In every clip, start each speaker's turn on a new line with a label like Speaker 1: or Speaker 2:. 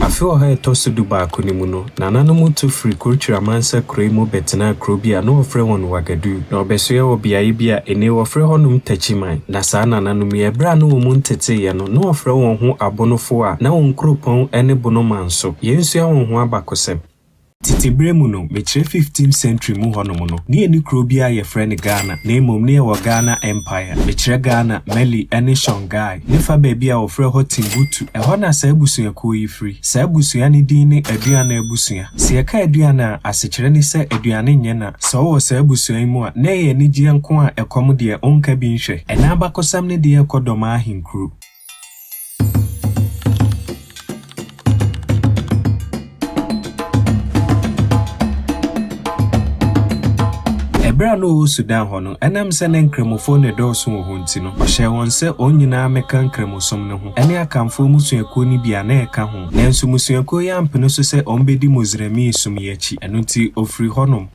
Speaker 1: Afe ɔha a ɛtɔ so dubaako no mu no, nananom tu firii Kurtri Amansa Kurow yi mu bɛtenaa kurow bi a na wɔfrɛ hɔ Ouagadougou, na wɔbɛsoɛɛ wɔ beaeɛ bi a ennɛ wɔfrɛ hɔnom Techiman. Na saa nananom yi, berɛ a na wɔn nteteeɛ no, na wɔfrɛ wɔn ho Abonofoɔ a na wɔn kuropɔn ne Bonoman nso. Yɛn nsua wɔn ho abakɔsɛm. Tsetse ber mu no, mekyerɛ fifteenth century mu hɔnom no, ne yɛnni kurow biara a yɛfrɛ no Ghana, na mbom ne yɛwɔ Ghana Empire, mekyerɛ Ghana, Mali, ne Songhai, ne fa beebi a wɔfrɛ hɔ Timbuktu. Ɛhɔ na saa ebusuakuo yi firi. Saa ebusua no din ne Aduana Abusua. Sɛ yɛka Aduana a, asekyerɛ ne sɛ aduane nyɛ na. Sɛ wowɔ saa abusua yi mu a, na ɛyɛ anigyeɛ nko a ɛkɔm deɛ, wonka bi nhwɛ. Ɛna abakɔsɛm no deɛ ɛkɔ dɔm ahenkuro. Ɛberɛ a na ɔwɔ Sudan hɔ no, ɛnam sɛ na Nkramofoɔ no redɔɔso wɔ hɔ nti no, ɔhyɛɛ wɔn sɛ wɔn nyinaa mmɛka Nkramosom no ho, ɛne Akanfoɔ mmusuakuo no bi a na ɛka ho. Nanso mmusuakuo yi ampene so sɛ wɔbɛdi Moslemii som yi akyi, ɛno nti ɔfirii hɔnom.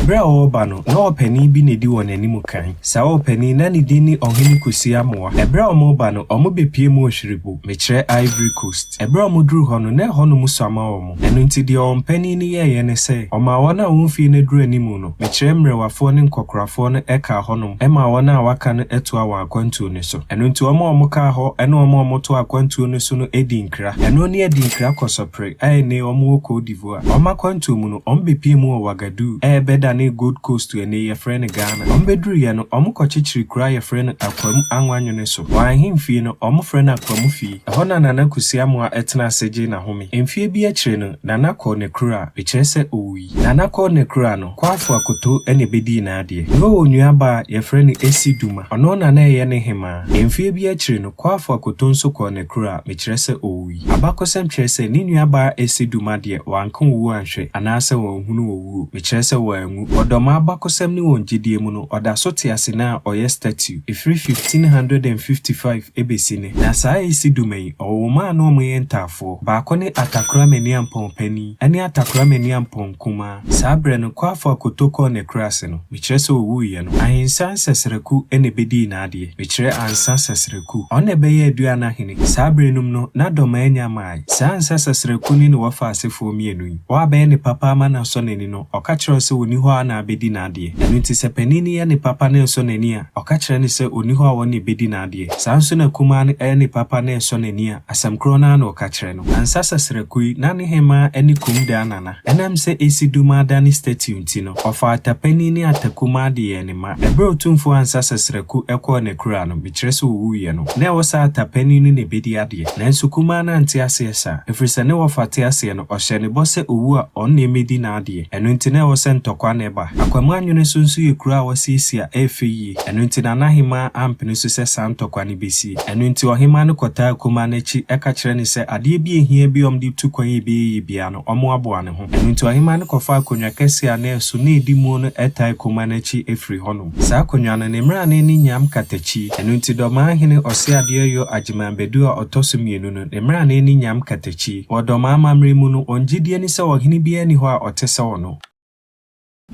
Speaker 1: Bere a ɔreba no, na ɔpanin bi na edi wɔn anim kan. Saa ɔpanin, na ne din ne Ɔhene Kwesi Amoah. Bere a wɔreba no, wɔbepue mu Ohwiribu, mekyerɛ Ivory Coast. Bere a wɔduruu hɔ no, na ɛhɔ no mu sua ma wɔn. Ɛno nti, deɛ wɔn panin no yɛeɛ ne sɛ, ɔmaa wɔn a wɔn mfeɛ no aduru anim no, mekyerɛ mmerewafoɔ ne nkɔkorafoɔ no kaa hɔnom maa wɔn a wɔaka no toaa wɔn akwantuo no so. Ɛno nti, wɔn a wɔkaa hɔ ne wɔn a wɔtoaa akwantuo no so no dii nkra. Ɛno ne adinkra kɔsɔpere a ɛnnɛ wɔwɔ Côte d'Ivoire. Wɔn akwantuo mu no, wɔbɛpie mu wɔ Wagaduu a ɛbɛdanee Gold Coast ɛnnɛ yi yɛfrɛ no Ghana. Wɔbɛduruiɛ no, wɔkɔkyekyeree kuro a yɛfrɛ no Akwam Anwanwene so. Wɔn ahemfie no, wɔfrɛ no Akwam fie. Ɛhɔ na Nana Kwesi Amoah tenaa ase gyee n'ahome. Mfeɛ bi akyire no, Nana kɔɔ n'akuraa, mekyerɛ sɛ ɔwui. Nana kɔɔ n'akuraa no, Kwaafo Akoto na ɛbɛdii n'adeɛ. Na ɔwɔ nuabaa a yɛfrɛ no Esi Duma. Ɔno na na ɛyɛ ne hemaa. Mfeɛ bi akyire no, Kwaafo Akoto nso kɔɔ n'akuraa, mekyerɛ sɛ ɔwui. Abakɔsɛm kyerɛ sɛ ne nuabaa Ese Duma deɛ, wanka owuo anhwɛ, anaasɛ wanhunu owuo, mekyerɛ sɛ wanwu. Wɔ Dɔmaa abakɔsɛm ne wɔn gyedie mu no, ɔda so te ase na ɔyɛ statue, ɛfiri 1555 ɛbɛsi nnɛ. Na saa Ese Duma yi, ɔwɔ mma a na wɔyɛ ntaafoɔ, baako ne Atakorah Maniampɔn Panin, ɛne Atakorah Maniampɔn Kumaa. Saa berɛ no, Kuafo a Koto kɔɔ n'akuraase no, mekyerɛ sɛ ɔwuiɛ no, Ahinsa Nsɛsrɛku na ɛbɛdii n'adeɛ, mekyerɛ Ansa Sɛsrɛku. Ɔno na ɛbɛyɛɛ Aduan Ahene. Saa berɛ nom no, na Dɔmaa nnya mmaeɛ. Saa Ansa Sɛsrɛku no ne Wɔfa asefoɔ mmienu yi. Wɔn a bɛyɛ ne papa ama no asɔ n'ani no, ɔka kyerɛ wɔn sɛ ɔnni hɔ a na abɛdi n'adeɛ. Ɛno nti sɛ panin no yɛ ne papa na ɛnsɔ n'ani a, ɔka kyerɛ no sɛ ɔnni hɔ a ɔno na ɛbɛdi n'adeɛ. Saa ara nso na kumaa no yɛ ne papa na ɛnsɔ n'ani a, asɛm korɔ no ara na ɔka kyerɛ no. Ansa Sɛsrɛku yi, na ne hemaa ne Komdaa Nana. Ɛnam sɛ esi duma ada ne statue nti no, ɔfaa atapanin ne atakumaa de yɛɛ ne mma. Ɛberɛ Otumfoɔ Ansa Sasraku kɔɔ n'akuraa no, mekyerɛ sɛ ɔwuiɛ no, na ɛwɔ sɛ atapanin no na ɛbɛdi adeɛ. Nanso kumaa no ante aseɛ saa, ɛfiri sɛ ne wɔfa te aseɛ no, ɔhyɛɛ ne bɔ sɛ ɔwu a, ɔno na ɛmmɛdi n'adeɛ. Ɛno nti na ɛwɔ sɛ ntɔkwa na ɛba. Akwam Anwene so nso yɛ kuro a wɔasiesie a ɛyɛ fɛ yie. Ɛno nti na n'ahemaa ampene so sɛ saa ntɔkwa no bɛsie. Ɛno nti ɔhemaa no kɔtaa kumaa no akyi ka kyerɛɛ no sɛ adeɛ bi a ɛhia biara a wɔde retu kwan a ɛbɛyɛ yie biara no, wɔaboa ne ho. Ɛno nti ɔhemmaa no kɔfaa akonnwa kɛseɛ a na ɛso na ɛdi muo no ɛtae kuma no akyi firii hɔnom. Saa akonnwa no, ne mmrane ne nyam katakyi. Ɛno nti Dɔmaa hene Ɔseadeɛ Yo Agyeman Badu a ɔtɔ so mmienu no, ne mmrane ne nyam katakyi. Wɔ Dɔmaa amammerɛ mu no, wɔn gyedie ne sɛ ɔhene biara nni hɔ a ɔte sɛ ɔno.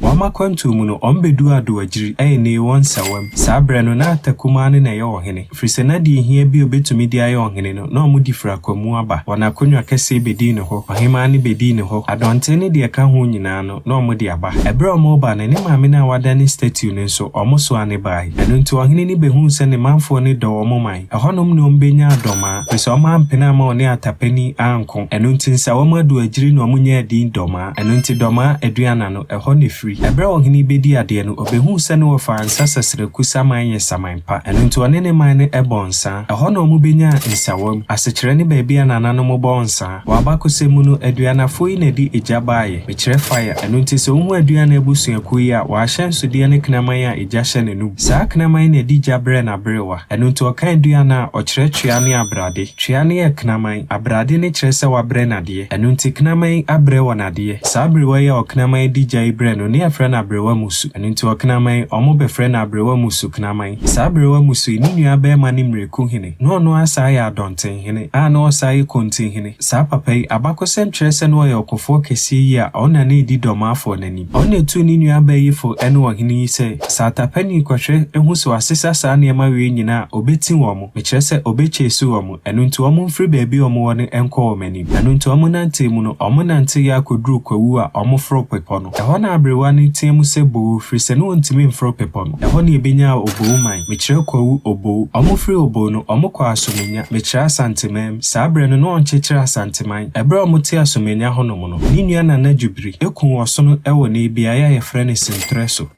Speaker 1: Wɔn akwantuo mu no, wɔn bɛduu Adoagyiri, ɛyɛ nnei wɔ Nsawam. Saa berɛ no, na Atakumaa no na ɛyɛ ɔhene, ɛfiri sɛ na deɛ ɛhia biara a ɔbɛtumi de ayɛ ɔhene no, na wɔde firi Akwamu aba. Wɔn akonnwa kɛseɛ bɛdii ne hɔ, ɔhemaa no bɛdii ne hɔ, adɔnten ne deɛ ɛka ho nyinaa no, na wɔde aba. Ɛberɛ a wɔreba no, ne maame no a wɔadane statue no nso, wɔsoaa no baeɛ. Ɛno nti, ɔhene no bɛhuu sɛ ne manfoɔ no dɔ wɔn man. Ɛhɔnom na wɔbenyaa dɔm a, firi sɛ wɔampene amma wɔne atapani anko. Ɛno nti, nsa wɔn adu agyiri na wɔnyaa din dɔm a. Ɛno nti Dɔmaa Aduana no, ɛhɔ na ɛfiri. Ɛberɛ a ɔhene yi bɛdii adeɛ no, ɔbɛhuu sɛ ne wɔfaa nsa sɛserɛku saman yɛ saman pa. Ɛno nti ɔne ne man no bɔɔ nsa. Ɛhɔ na wɔbenyaa Nsawam, asekyerɛ ne baabi a nananom bɔ nsa. Wɔ abakɔsɛm mu no, aduanafo yi na ɛde egya baeɛ, mekyerɛ fire. Ɛno nti sɛ wohu aduan a abusuakuo yi a, wɔn ahyɛnsodeɛ ne kraman a egya hyɛ ne no bu. Saa kraman yi na ɛde gya brɛ n'aberewa. Ɛno nti ɔka aduan a, ɔkyerɛ twea ne abrade. Twea no yɛ kraman, abrade no kyerɛ sɛ wabrɛ no adeɛ. Ɛno nti kraman yi abrɛ wɔn adeɛ. Saa aberewa yi a ɔkraman yi de gya yi brɛ no, ne yɛfrɛ no aberewa musu. Ɛno nti ɔkraman yi, wɔbɛfrɛ no aberewa musu kraman. Saa aberewa musu yi, ne nuabarima ne Mmireku hene. Na ɔno ara saa yɛ adɔntenhene, a na ɔsan yɛ kontihene. Saa papa yi, abakɔsɛm kyerɛ sɛ na ɔyɛ ɔkofoɔ kɛseɛ yie a ɔna na ɛdi Dɔmaafoɔ no anim. Ɔna tuu ne nua abayifoɔ ne ɔhene yi sɛ, Sɛ atapani kɔhwɛ hu sɛ wɔasesa saa nneɛma wei nyinaa a, ɔbɛti wɔn, mekyerɛ sɛ ɔbɛkyɛɛsi wɔn, ɛno nti wɔmfiri baabi a wɔwɔ no nkɔ wɔn anim. Ɛno nti wɔnantee mu no, wɔnanteeɛ ara kɔduruu Kwawu a wɔforoo bepɔ no. Ɛhɔ na aberewa no teaam sɛ Boo! firi sɛ na ɔntumi mforo bepɔ no. Ɛhɔ na yɛbɛnyaa Obooman. Mekyerɛ Kwawu Oboo. Wɔfiri Oboo no, wɔkɔɔ Asomenya. Mekyerɛ Asantemam. Saa berɛ no, na wɔnkyekyere Asanteman. Ɛberɛ a wɔte Asomenya hɔnom no, ne nua Nana Jubiri kuu ɔsono wɔ nnɛyi beaeɛ a yɛfrɛ no Sentrɛ so.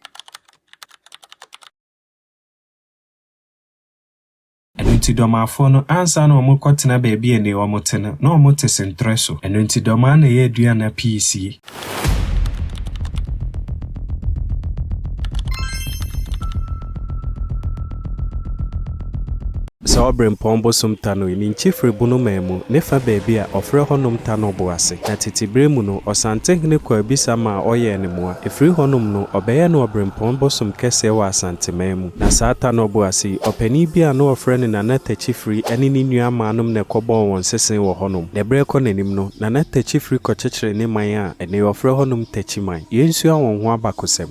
Speaker 1: Ɛno nti Dɔmaafoɔ no, ansa na wɔrekɔtena baabi a nnɛyi wɔte no, na wɔte Sentrɛ so. Ɛno nti Dɔmaa na ɛyɛ aduana pii sie. Saa Ɔberempɔn bosom Tanoi, ne nkyi firi Bonomaa mu, ne fa baabi a wɔfrɛ hɔ nom Tanor bo ase. Na tete berɛ mu no, Ɔsantehene Kwarbisa maa wɔyɛɛ no mmoa. Ɛfiri hɔnom no, ɔbɛyɛɛ no Ɔberempɔn bosom kɛseɛ wɔ Asanteman mu. Na saa ta no ɔbo ase yi, ɔpanin bi a na wɔfrɛ no Nana Takyifiri ne ne nuammaanom na ɛkɔbɔɔ wɔn sese wɔ hɔnom. Na berɛ rekɔ n'anim no, Nana Takyifiri kɔkyekyeree ne man a ɛnnɛ wɔfrɛ hɔnom Takyiman. Yɛnsua wɔn ho abakosɛm.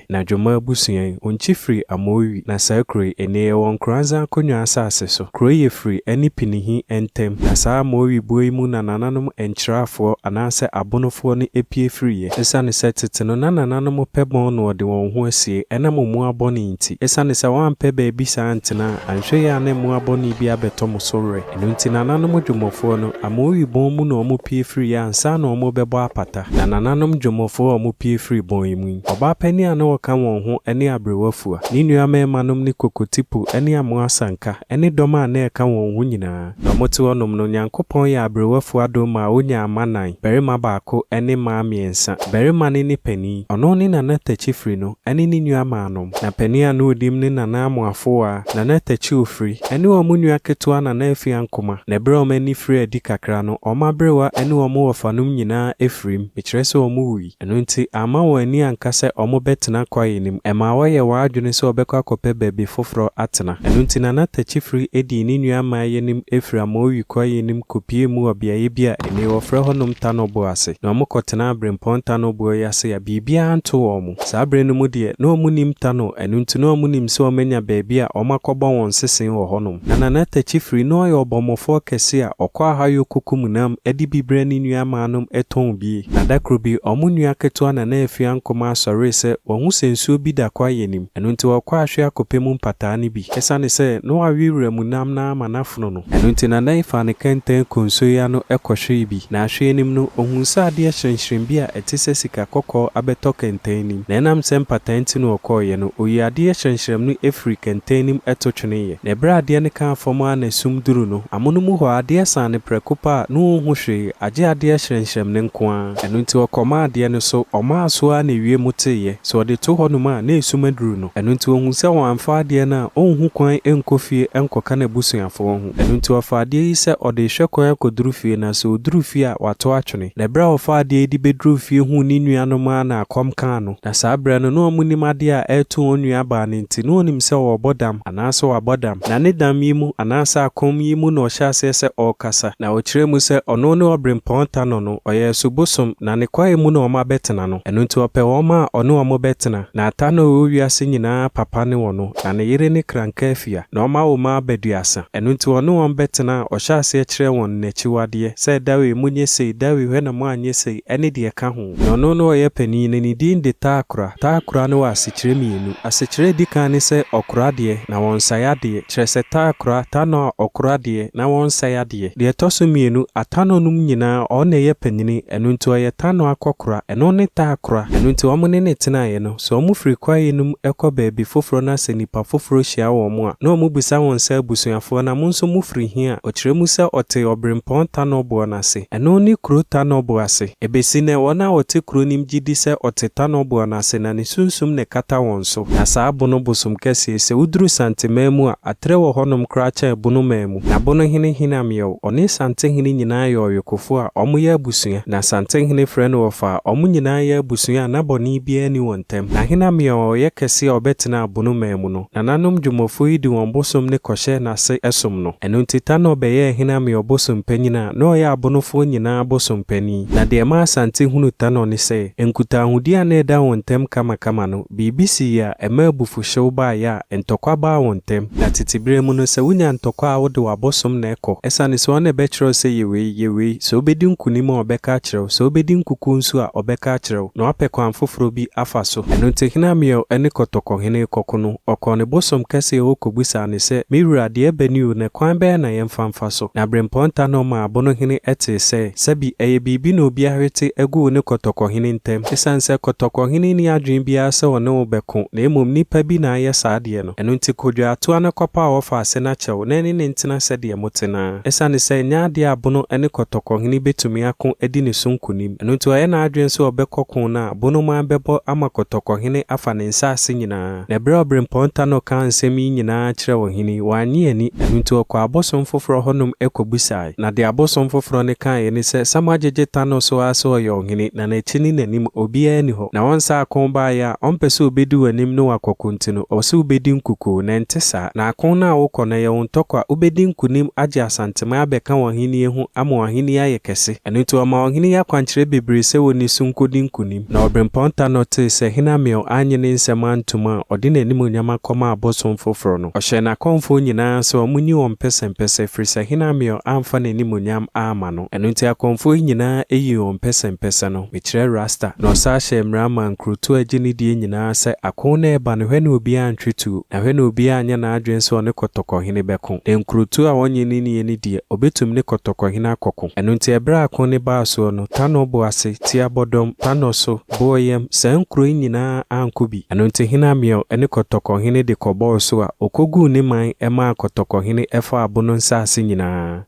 Speaker 1: Na Dwoma abusua yi, onkyi firi Amoiwi na saa kuro yi, ene yɛwɔ Nkoranza Akonwa asaase so. Kuro yi yɛ firi ɛne Pinihi ɛntɛm, na saa Amoiwi buo yi mu na nananom Nkyeraafoɔ anaasɛ Abonofoɔ no ɛpie firi yɛ. Ɛsiane sɛ tete no na nananom pɛ bɔn na wɔde wɔn ho asie ɛnam omoa bɔne nti, ɛsiane sɛ wɔampɛ baabi saa antena a, anhwɛ yie a na mmoa bɔne bi abɛtɔ mo so werɛ. Ɛno nti nananom dwomɔfoɔ no, Amooi bɔn mu na wɔpue firiiɛ ansa na wɔrebɛbɔ apata. Na nananom dwomɔfoɔ a wɔpue firii bɔn yi mu yi, ɔbaa panin a na ɔka wɔn ho ne aberewa fua, ne nnua mmarimanom ne Kokotipu ne Amoa Asanka ne dɔm a na ɛka wɔn ho nyinaa. Na wɔte hɔ nom no, Nyankopɔn yɛɛ aberewa fua adom maa ɔnyaa mma nnan, barima baako ne mmaa mmiɛnsa. Barima no ne panin, ɔno ne nana takyifiri no ne ne nua maanom. Na panin a na ɔdim ne Nana Amoafoa, Nana Takyi Ofiri, ne wɔn nua ketewa Nana Afia Nkoma, na berɛ a wɔn ani firii adi kakra no, wɔn aberewa ne wɔn wɔfanom nyinaa firim, mekyerɛ sɛ wɔwui. Ɛno nti, amma wɔn ani anka sɛ wɔbɛtena kwaeɛ no mu. Ɛmaa wɔyɛɛ wɔn adwene sɛ wɔbɛkɔ akɔpɛ baabi foforɔ atena. Ɛno nti, Nana Takyi Firi dii ne nua mmaeɛ no mu firii Amaoui kwaeɛ no mu kɔpuee mu wɔ beaeɛ bi a nnei wɔfrɛ hɔnom Tanoboɔ ase, na wɔkɔtenaa Berempɔn Tanoboɔ yi ase a biribiara anto wɔn. Saa bere no mu deɛ, na wɔnnim ta no, ɛno nti na wɔnnim sɛ wɔanya baabi a wɔakɔbɔ wɔn sese wɔ hɔnom. Na Nana Takyi Firi, na ɔyɛ ɔbɔmmɔfoɔ kɛse a ɔkɔ Ahayɔ kɔkum nam de bi brɛ ne nuammaanom tɔn bi. Na da koro bi, wɔn nua ketewa Nana Afia Nkomaa sɔree sɛ wahu sɛ nsuo bi da kwaeɛ no mu, ɛno nti ɔkɔɔ ahwe akɔpɛ mu mpataa no bi. Ɛsiane sɛ na wawe wuram nam no ara ma no afono no, Ɛno nti na Nan faa ne kɛntɛn konsoe ano kɔhwee bi, na ahwɛe nim no, ohuu sɛ adeɛ hyerɛnhyerɛn bi a ɛte sɛ sika kɔkɔɔ abɛtɔ kɛntɛn nim, na ɛnam sɛ mpataa nti na ɔkɔeɛ no, oyii adeɛ hyerɛnhyerɛm no firii kɛntɛn nim to tweneeɛ. Na berɛ a adeɛ no kaa fam ara na sum duruu no, amono mu hɔ, adeɛ saa no prɛko pɛ a, na ɔnhu hwee, agye adeɛ hyerɛnhyerɛm no nko ara. Ɛno nti ɔkɔmaa adeɛ no so, ɔmaa so ara na ewiem teeɛ, sɛ ɔde to hɔnom a, na sum aduru no. Ɛno nti ɔhuu sɛ wamfa adeɛ no a, ɔnhu kwan nkɔ fie nkɔka n'abusuafoɔ ho. Ɛno nti ɔfaa adeɛ yi sɛ ɔde rehwɛ kwan akɔduru fie, na sɛ ɔduru fie a, wato atwene. Na berɛ a ɔfaa adeɛ yi de bɛduruu fie huu ne nuanom ara na akɔm kaa no. Na saa berɛ no, na wɔnnim adeɛ a ɛreto wɔn nuabaa no nti, na ɔnim sɛ ɔrebɔ dam, anaasɛ wabɔ dam. Na ne dam yi mu, anaasɛ akɔm yi mu na ɔhyɛɛ aseɛ sɛ ɔrekasa. Na ɔkyerɛɛ mu sɛ ɔno ne Ɔberempɔn Tanɔ no, ɔyɛ ɛso bosom, na ne kwaeɛ mu na wɔabɛtena no. Ɛno nti ɔpɛ wɔn a ɔne wɔn bɛtena. Nata na ɔwɔ wiase nyinaa papa ne wɔn, na ne yere ne Krankafia, na ɔma wɔn mma baduasa. Ɛno nti ɔne wɔn bɛtena a, ɔhyɛ aseɛ kyerɛɛ wɔn n'akyiwadeɛ, sɛ dawee monyɛ sei, dawee hwɛ na moanyɛ sei, ɛne deɛ ɛka ho. Na ɔno na ɔyɛ panin, na ne din de Taakora. Taakora no wɔ asekyerɛ mmienu. Asekyerɛ a ɛdi kan ne sɛ ɔkora adeɛ, na wɔnsae adeɛ, kyerɛ sɛ Taakora, Tanɔ a ɔkora adeɛ, na wɔnsae adeɛ. Deɛ ɛtɔ so mmienu, Atanɔnom nyinaa, ɔno na ɛyɛ panin, ɛno nti ɔyɛ Tanɔ akɔkora. Ɛno ne Taakora. Ɛno nti wɔn ne no tenaeɛ no, sɛ wɔn firi kwaeɛ no mu kɔ baabi foforɔ na sɛ nnipa foforɔ hyia wɔn a, na wɔn bisa wɔn sɛ abusuafoɔ na mo nso mo firi he a, ɔkyerɛ mu sɛ ɔte Ɔberempɔn Tanɔboɔ no ase. Ɛno ne kuro Tanɔboɔ ase. Ɛbɛsi nnɛ wɔn a wɔte kuro no mu gye di sɛ ɔte Tanɔboɔ no ase na ne sunsum na ɛkata wɔn so. Na saa Bono bosom kɛseɛ yi, sɛ woduru Santemaa mu a, aterɛ wɔ hɔnom koraa kyɛn Bono man mu. N'abonohene Hinam yɛ o, ɔne Santenhene nyinaa yɛ ɔyokofo a wɔyɛ abusua, na Santenhene frɛ no wɔfa a wɔn nyinaa yɛ abusua a na bɔne biara nni wɔn ntam. Na Hinam yɛ o, ɔyɛ kɛse a ɔbɛtena abono man mu no. Nananom Dwomafo yi de wɔn bosom ne kɔhyɛ na ase som no. Ɛno nti Tanor bɛyɛɛ Hinam yɛ o bosom panyin a na ɔyɛ abonofoɔ nyinaa bosom panin. Na deɛ ɛmaa Asante hunu Tanor ne sɛ, nkutaahodi a na ɛda wɔn ntam kamakama no, Biribi sii a ɛma abufuhyew bae a ntɔkwa baa wɔn ntam. Na tete bere mu no, sɛ wunya ntɔkwa a wode w'abosom na ɛkɔ. Esiane sɛ ɔna ɛbɛkyerɛ wo sɛ yɛ wei, yɛ wei, sɛ wobedi nkonim a ɔbɛka akyerɛ wo, sɛ wobedi nkuku nso a ɔbɛka akyerɛ wo, na wapɛ kwan foforo bi afa so. Ɛno nti hene Amiel ne kɔtɔkɔhene rekɔko no, ɔkɔɔ ne bosom kɛse hɔ kobisaa no sɛ, Me wura, deɛ ɛbɛ ni o, na kwan bɛn na yɛmfa mfa so? Na Birɛmpɔn Tahnɔm maa abonohene tee sɛɛ. Sɛbi ɛyɛ biribi na obi ahwete agu wo ne kɔtɔkɔhene ntam. Esiane sɛ kɔtɔkɔhene nni adwene biara sɛ ɔne wo bɛko na mmom nnipa bi na ayɛ saa adeɛ no, ɛno nti kɔdware toa no kɔpaw ɔfa ase na kyɛw na ɛne no ntena sɛdeɛ mote no ara. Esiane sɛ ɛnyɛ adeɛ a Abono ne kɔtɔkɔhene bɛtumi ako adi ne so nkonim, ɛno nti ɔyɛ n'adwene sɛ ɔbɛkɔ ko no a, Bonoman bɛbɔ ama kɔtɔkɔhene afa ne nsase nyinaa. Na bere a obirɛmpɔn Tanor kaa nsɛm yi nyinaa kyerɛɛ ɔhene yi, wannye anni, ɛno nti ɔkɔɔ abosom foforɔ hɔnom kɔbisaeɛ. Na deɛ abosom foforɔ no kaeɛ ne sɛ, Sam agyegye Tanor so ara sɛ ɔyɛ ɔhene, na n'akyi ne n'anim, obiara nni hɔ. Na ɔnsa ako baeɛ a, ɔmpɛ sɛ ɔbɛdi w'anim ne wo akɔko nti no, ɔwɔ sɛ wobɛdi nkukoo, na ɛnte saa. Na ako no a wokɔ no, ɛyɛ wo ntɔkwa, wobɛdi nkonim agye Asanteman abɛka wɔn ahennie ho, ama wɔn ahennie ayɛ kɛse. Ɛno nti ɔmaa ɔhene yi akwankyerɛ bebree sɛ ɔnni so nkɔdi nkonim. Na ɔberempɔn Tanor tee sɛ Hinamil annye ne nsɛm antom a, ɔde n'animuonyam akɔma abosom foforɔ no. Ɔhyɛɛ n'akɔmfoɔ nyinaa sɛ wɔnyi wɔn mpɛsɛmpɛsɛ, ɛfiri sɛ Hinamil amfa n'animuonyam amma no. Ɛno nti akɔmfoɔ yi nyinaa yii wɔn mpɛsɛmpɛsɛ no, mekyerɛ rasta. Na ɔsan hyɛɛ mmara maa nkurotoɔ a ɛgye ne die nyinaa sɛ, Ako no reba no, hwɛ na obiara ntwe tuo, na hwɛ na obiara anyɛ n'adwene sɛ ɔne kɔtɔkɔhene bɛko. Na nkurotoɔ a ɔnnye no nnie no deɛ, ɔbɛtumi ne kɔtɔkɔhene akɔko. Ɛno nti ɛberɛ a ako no baa soɔ no, Tanor bo ase tia bɔdɔm, Tanor so, Boayam, saa nkuro yi nyinaa ankɔ bi. Ɛno nti hene Amiel ne Kɔtɔkɔhene de kɔbɔɔ so a ɔkɔguu ne man maa Kɔtɔkɔhene faa Bono nsase nyinaa.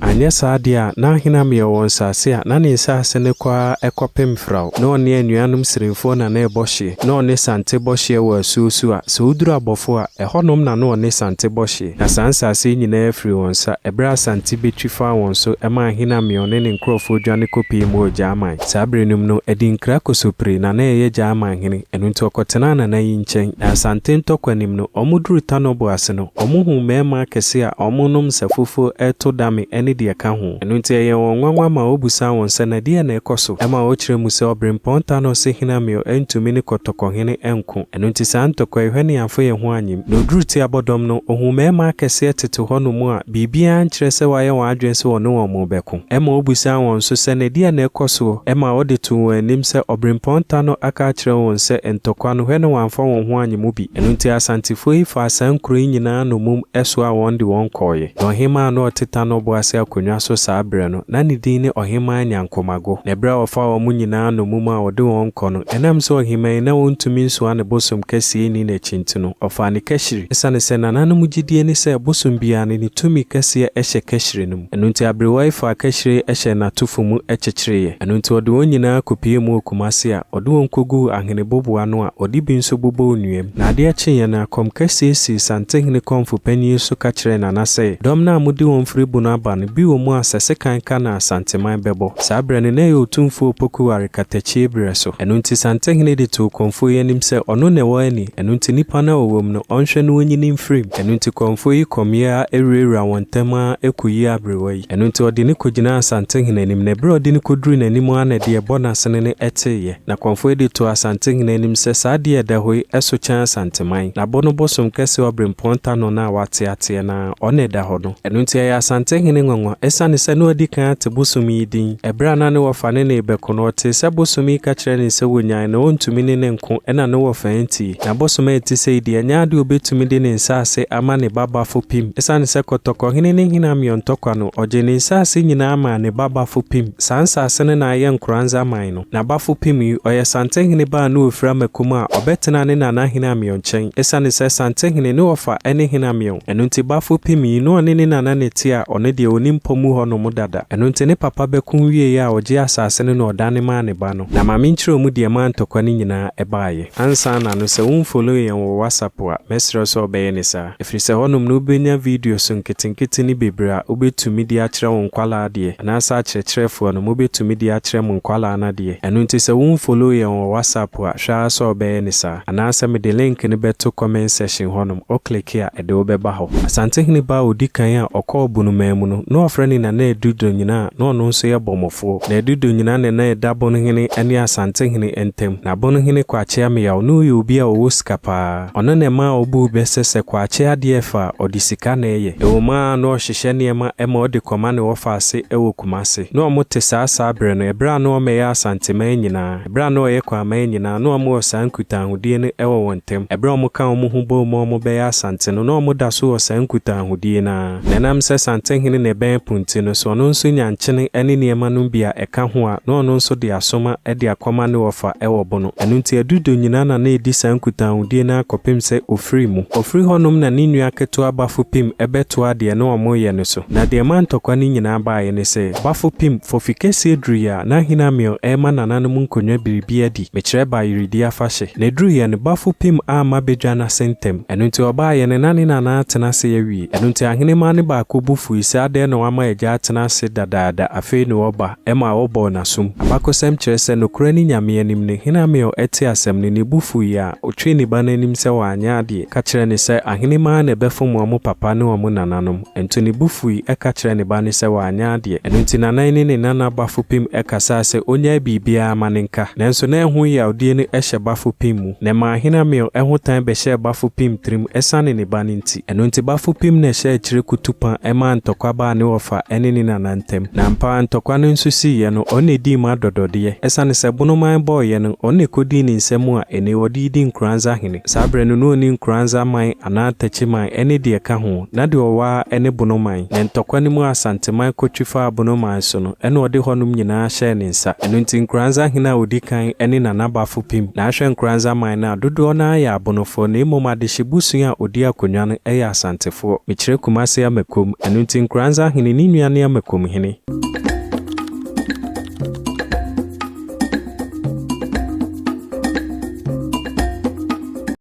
Speaker 1: Anyɛ saa deɛ a na hene Amiel wɔ nsase a na ne nsase no kɔ ara kɔpem Frao. Na ɔne anuanom Sirimfoɔ na na ɛbɔ hyeɛ. Na ɔne Sante bɔ hyeɛ wɔ asuo so a sɛ woduru Abɔfo a, ɛhɔnom na na ɔne Sante bɔ hyeɛ. Na saa nsaase yi nyina ara firii wɔn nsa, ɛberɛ a Asante bɛtwi faa wɔn so, ɛmaa Ahinameɔn ne ne nkurɔfoɔ dwane kɔpue mu wɔ Gyaman. Saa berɛ no mu no, Adinkra Kosopiri na na ɛyɛ Gyaman hene, ɛno nti ɔkɔtenaa Nana yi nkyɛn, na Asante ntɔkwa nim no, wɔn duruu Tanɔbo ase no, wɔn huu mmarima akɛseɛ a wɔn nom nsa fufuo reto dame ne deɛ ɛka ho. Ɛno nti ɛyɛɛ wɔn nwanwa maa wɔbusaa wɔn sɛ, Na deɛn na ɛrekɔ so? ɛmaa wɔkyerɛɛ mu sɛ, Ɔberempɔn Tanɔ se Hinameɔ ntumi ne Kɔtɔkɔhene nko. Ɛno nti saa ntɔkwa yi hɔ ne yɛamfa yɛn ho anyem. Na ɔduruu ti abɔdɔm no, ɔhuu mmarima akɛseɛ tete hɔnom a biribiara nkyerɛ sɛ wɔayɛ wɔn adwene sɛ wɔne wɔn rebɛko. Ɛma ɔbisaa wɔn nso sɛ, Ɛdeɛn na ɛkɔ soɔ? Ɛma ɔde too wɔn anim sɛ, Ɔberempɔn Ta no aka akyerɛ wɔn sɛ, Ntɔkwa no hwɛ ne wɔamfa wɔn ho anye mu bi. Ɛno nti Asantefoɔ yi faa saa nkuro yi nyinaa nnomum soaa wɔn de wɔn kɔeɛ. Na ɔhemaa no a ɔte Ta no ɔboase akonnwa so saa berɛ no, Ná ne din ne Ɔhemmaa Nyankomago. Na bere a wɔfaa wɔn nyinaa nnommum a wɔde wɔn rekɔ no, ɛnam sɛ ɔhemmaa yi na ontumi nsoa ne bosom kɛseɛ nni n'akyi nti no, ɔfaa ne kahyiri. Esiane sɛ nananom gyidie ne sɛ bosom biara no, ne tumi kɛseɛ hyɛ kahyiri no mu, ɛno nti aberewa yi faa kahyire yi hyɛɛ n'atofo mu kyekyereeɛ. Ɛno nti ɔde wɔn nyinaa kɔpuee mu wɔ Kumasi a ɔde wɔn kɔguu ahene boboa ano a ɔde bi nso bobɔɔ nnua mu. Na adeɛ kyeeɛ no, akɔm kɛseɛ sii Santehene Kɔmfo Panyin so ka kyerɛɛ Nana sɛ, Dɔm no a mode wɔn firi Bono aba no, Bi wɔ mu a sɛ sekan ka na Asanteman bɛbɔ. Saa berɛ no, na ɛyɛ Otumfuo Opoku Ware katakyie berɛ so. Ɛno nti Santehene de too Kɔmfoɔ yi anim sɛ ɔno na ɛwɔ ani, ɛno nti nnipa no a wɔwɔ mu no, ɔnhwɛ na wɔnyi no mfiri mu. Ɛno nti Kɔmfoɔ yi kɔmeeɛ ara awurawuraa wɔn ntam ara kɔyii aberewa yi. Ɛno nti ɔde no kɔgyinaa Asantehene anim, na berɛ a ɔde no kɔduruu n'anim ara na deɛ ɛbɔ n'asene no teeɛ. Na Kɔmfoɔ yi de too Asantehene anim sɛ saa adeɛ a ɛda hɔ yi so kyɛn Asanteman. Na abɔ no bosom kɛseɛ ɔberempɔn Tanona a wateateɛ no ara. Ɔno na ɛda hɔ no. Ɛno nti ɛyɛ Asantehene nwanwa. Ɛsiane sɛ na wadi kan ate bosome yi din, ɛberɛ a na ne wɔfa ne no rebɛko no, ɔtee sɛ bosome yi ka kyerɛɛ no sɛ wɔnnyae na ɔntumi ne no nko ɛna ne wɔfa antie. Na bosome a ɛte sei deɛ, ɛnyɛ adeɛ a ɔbɛtumi de ne nsase ama ne ba Bafopim. Ɛsiane sɛ Kɔtɔkɔhene ne Hene Ameɔn Tɔkwa no, ɔgyee ne nsase nyinaa maa ne ba Bafopim. Saa nsase no na ayɛ Nkoranza man no. N'abafo pemii ɔyɛ Santenhene baa ne ofir Amako mu a ɔbɛtenaa ne nana Hene Ameon nkyɛn. Esiane sɛ Santenhene ne ɔfa ne Hene Ameon, ɛno nti bafo pemii no ɔne ne nana na ɛte a ɔno deɛ ɔnni mpɔ mu hɔ nom dada. Ɛno nti ne papa bɛko wieeɛ a ɔgyee asase no na ɔdane maa ne ba no. Na ma menkyerɛ mu deɛ ɛmaa ntɔkwa no nyinaa ɛbaeɛ. Ansa na no sɛ wonfollow yɛn wɔ WhatsApp a mɛsrɛ wo sɛ ɔbɛyɛ ne saa. ɛfiri sɛ hɔnom na wobɛnya videos nketenkete ne bebree a wobɛtumi de akyerɛ wo nkwadaa adeɛ, anaasɛ akyerɛkyerɛfoɔ no mobɛtumi de akyerɛ mo nkwadaa no adeɛ. Ɛno nti sɛ wo nfollow yɛn wɔ WhatsApp a, hwɛ ara sɛ wobɛyɛ no saa. Anaasɛ mede link no bɛto comment section hɔnom, wo click a ɛde wo bɛba hɔ. Asantehene ba a ɔdi kan a ɔkɔɔ Bonoman mu no, na wɔfrɛ no Nana Adu Donyina a na ɔno nso yɛ Bɔmmɔfoɔ. Na Adu Donyina na na ɛda Bonohene ne Asantehene ntam. Na Bonohene Kwakyea Meyaw, na ɔyɛ obi a ɔwɔ sika pa ara. Ɔno na ɛmaa obuu bɛ sɛ sɛ Kwakye adeɛ fa a, ɔde sika na ɛyɛ. Ɛwom ara na ɔrehyehyɛ nneɛma ma ɔde kɔma ne wɔfa ase wɔ Kumase. Na wɔte saa saa berɛ no, ɛberɛ a na wɔyɛ Asanteman nyinaa, ɛberɛ a na wɔyɛ Kwaaman nyinaa, na wɔwɔ saa nkutaahodie no wɔ wɔn ntam. Ɛberɛ a wɔka wɔn ho boom ma wɔbɛyɛ Asante no, na wɔda so wɔ saa nkutaahodie no ara. Na ɛnam sɛ Santehene na ɛbɛn po nti no, sɛ ɔno nso nya nkyene ne nneɛma nom bi a ɛka ho a, na ɔno nso de asoma de akɔma ne wɔfa wɔ bo no. Ɛno nti adudo nyinaa na na ɛdi saa nkutahodie no ara kɔpem sɛ ɔfiri mu. Ɔfiri hɔ nom na ne nua ketewa Bafo Pim bɛtoaa deɛ na wɔreyɛ no so. Na deɛ ɛmaa ntɔkwa no nyinaa baeɛ ne sɛ, Bafo Pim, fɔfikɛseɛ duruiɛ a, na Hene Amiel rema nananom nkonnwa biribi adi, mekyerɛ Bayeredi afahye. Na ɛduruiɛ no, Bafo Pim amma badwa no ase ntɛm. Ɛno nti ɔbaeɛ no, na ne nana atena ase awie. Ɛno nti ahenemmaa no baako bo fui sɛ, Adɛn na wama agya atena ase dadaada, afei ne ɔba, ɛma ɔbɔɔ no asom? Abakɔsɛm kyerɛ sɛ nokorɛ ne Nyame anim no, hene Amiel tee asɛm no, ne bo fuiɛ a, ɔtwee ne ba no anim sɛ wanyɛ adeɛ, ka kyerɛɛ no sɛ, Ahenemmaa na ɛbɛfom wɔn papa ne wɔn nananom. Nto ne bo fui, ka kyerɛɛ ne ba no sɛ wanyɛ adeɛ. Ɛno nti nana yi ne ne nana Bafopim kasaa sɛ ɔnyae biribiara ma no nka. Nanso na ɛho yawdie no hyɛ Bafopim mu, na ɛmaa hene Amiel ho tan bɛhyɛɛ Bafopim tirim ɛsiane ne ba no nti. Ɛno nti Bafopim na ɛhyɛɛ akyire kutupa maa ntɔkwa baa ne wɔfa ne ne nana ntam. Na ampa ara ntɔkwa no nso siiɛ no, ɔno na ɛdii mu adɔdɔdeɛ. Ɛsiane sɛ Bonoman bɔeɛ no, ɔno na ɛkɔdii ne nsa mu a ɛnnɛ yi ɔde redi Nkoranza hene. Saa berɛ no, na ɔnni Nkoranza man anaa Takyi man ne deɛ ɛka ho, na deɛ ɔwɔ ara ne Bonoman. Ne ntɔkwa no mu a Asanteman kɔtwi faa Abonoman so no, ɛna ɔde hɔnom nyinaa hyɛɛ ne nsa. Ɛno nti Nkoranza hene a ɔdi kan ne Nanabafo pim na ahwɛ Nkoranza man no a dodoɔ no ara yɛ Abonofoɔ na mmom adehye bosua a ɔdi akonnwa no yɛ Asantefoɔ. Mekyerɛ Kumase Amakom. Ɛno nti Nkoranza hene ne nua ne Amakom hene.